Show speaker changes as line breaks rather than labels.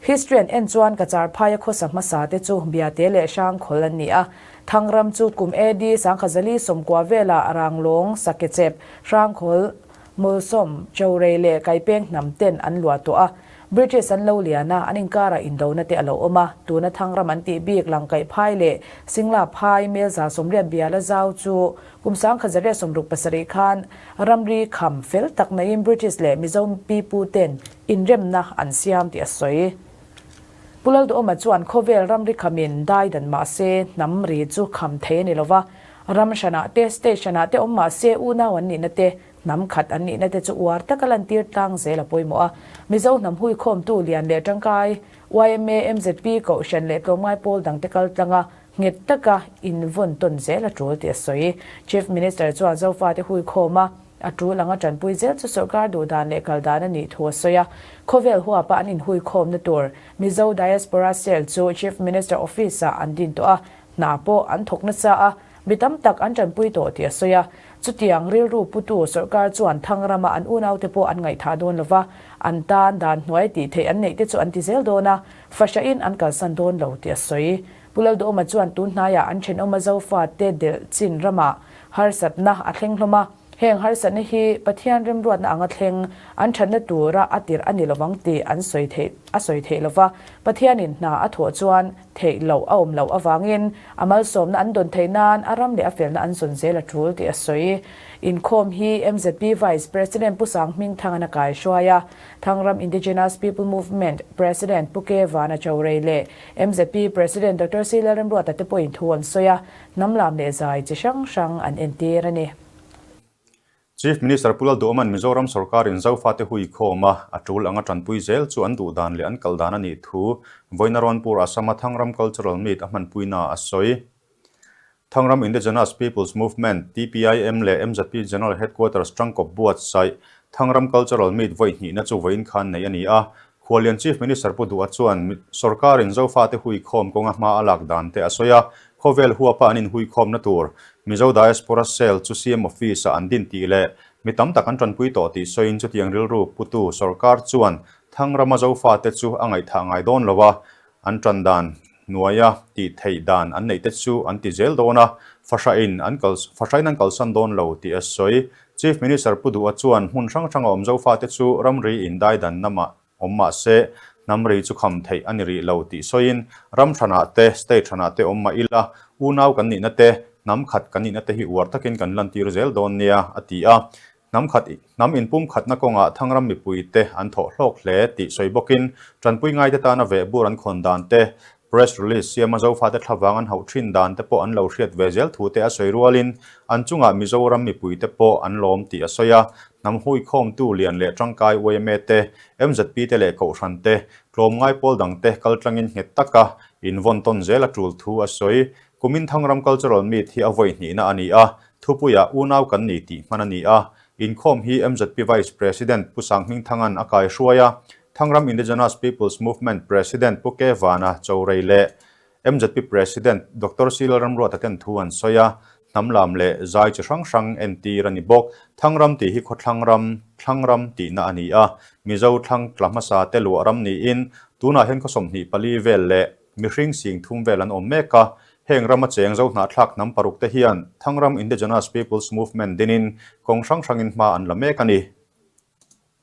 History an en chuan ka charphaia khawsa hmasa te chu Biate leh Hrangkhawl an ni a. Thangram chu kum AD Sangkhazali sawmkua vela Ranglawng, Sakechep, Hrangkhawl, Mulsawm, Chorei leh Kaipeng hnam ten an lua tawh a. British an lo lian a, an inkara indona te a lo awm a. Tuna Thangram an tih bik Langkaih phai leh Singla phai Hmelza sawmriat biala zau chu kum Sangkhazaria sawmruk pasarih khan ramri kham fel tak naihin British leh Mizo Mipu ten inremna an siam tih a sawi. Pu Lalduawma chuan khawvel ramri kham in dai dan mah se hnam ri chu kham thei a ni lova, ram hranah te, state hranah te awm mah se unau an nihna te, hnam khat an nihna te chu uar taka lantir tlang zel a pawimawh a. Mizo hnam huikhawmtu lian leh tangkai, yma, mzp kohhran leh tlawmngai pawl dang te kal tlanga nghet taka invawn tawn zel a tul tih a sawi. Chief Minister chuan Zofate huikhawm a, A tul anga tanpui zel chu sorkar duh dan leh kal dan a nih thu a sawi a. Khawvel huapa an inhui khawmna tur Mizo Diaspora Cell chu Chief Minister Office ah an din tawh a, hna pawh an thawk nasa a, mi tam tak an tanpui tawh tih a sawi a. Chutiang rilru putu sorkar chuan Thangram ah an unau te pawh an ngaithah dawn lo va, an tan dan hnuai tih theih an neih te chu an ti zel dawn a, fahrahin an kalsan dawn lo tih a sawi. Pu Lalduawma chuan tun hnaiah an thenawma Zofa te delh chin rama harsatna a thleng hlawm a, heng harsatna hi Pathian remruatna anga thleng an thatna tura a tirh a ni lovang tih an sawi theih a sawi theih lo va, Pathianin hna a thawh chuan theih loh a awm loh avangin a malsawmna an dawn thei nan a ram leh a felna an zawn zel a tul tih a sawi. Inkhawm hi mzp Vice President Pu Sangming Thangan a kaihruai a, Thangram Indigenous People Movement President Pu Kevana Chawrei leh Mzp President Doctor Sri Lalremruata te pawhin thu an sawi a, hnam lam leh zai chi hrang hrang an entir a ni. Chief Minister Pu Lalduaman Mizoram sorkarin Zofa te hui khawm a, a tul anga tanpui zel chu an duh dan leh an kal dan a nih thu Vawiinarawnpur Assam-a Thangram Cultural Meet a hmanpuina a sawi. Thangram Indigenous Peoples Movement, TPIM, leh MZP General Headquarters Tangkawp Buat Saih, Thangram Cultural Meet vawi hnihna chu vawiin khan nei a ni a. Khualian Chief Minister Pu Duha chuan sorkarin Zofate huikhawm kawnga hma a lak dan te a sawi a, khawvel huapa an inhuikhawmna tur Mizo Diaspora Cell chu siam office ah an din tih leh mi tam tak an tanpui tawh tih sawiin chutiang rilru putu sorkar chuan Thangrama Zofate chu a ngaihthah ngai dawn lova an tan dan hnuai a tih theih dan an neih te chu an ti zel dawn a, fahrahin an kal fahrain an kalsan dawn lo tih a sawi. Chief Minister Pu Duha chuan hmun hrang hranga awm Zofa te chu ramri in dai dan na mah awm mah se hnam ri chu kham theih a ni rih lo tih sawiin ram hranah te state hranah te awm mah ila unau kan nihna te hnam khat kan nihna te hi uar takin kan lantir zel dawn nia a ti a. Hnam khat hnam inpum khatna kawngah Thangram mipui te an thawh hlawk hle tih sawi bawkin Tanpui ngaite tana vehbur an khawn dan te, Press Release siama Zofate thla vang an hauh thin dan te pawh an lo hriat ve zel thu te a sawi rualin an chungah Mizoram mipui te pawh an lawm tih a sawi a. Hnam hui khawm tu lian leh tangkai yma te, MZP te leh Kohhran te, tlawm ngai pawl dang te kal tangin nghet taka in vawn tawn zel a tul thu a sawi Kuminthang ram cultural meet hi a vawi hnihna a ni a, thupuia u nau kan ni tih hman a ni a. Inkhawm hi mzp Vice President Pu Sanghmingthanga'n a kaihruai a, Thangram Indigenous People's Movement President Pu Kyaw Vana Chawrei leh mzp President Doctor Silal Ramruata ten thu an sawi a, hnamlam leh zai chi hrang hrang entir a ni bawk. Thangram tih hi khawthlang ram, thlang ram tihna a ni a, Mizo thlang tla hmasa te luah ram niin tunah hian khaw sawmhnih pali vel leh, Mihring sing thum vel an awm mek a, heng rama cheng zo hnah thlak hnam paruk te hian Thangram Indigenous People's Movement dinin kawng hrang hrangin hma an la mek a ni.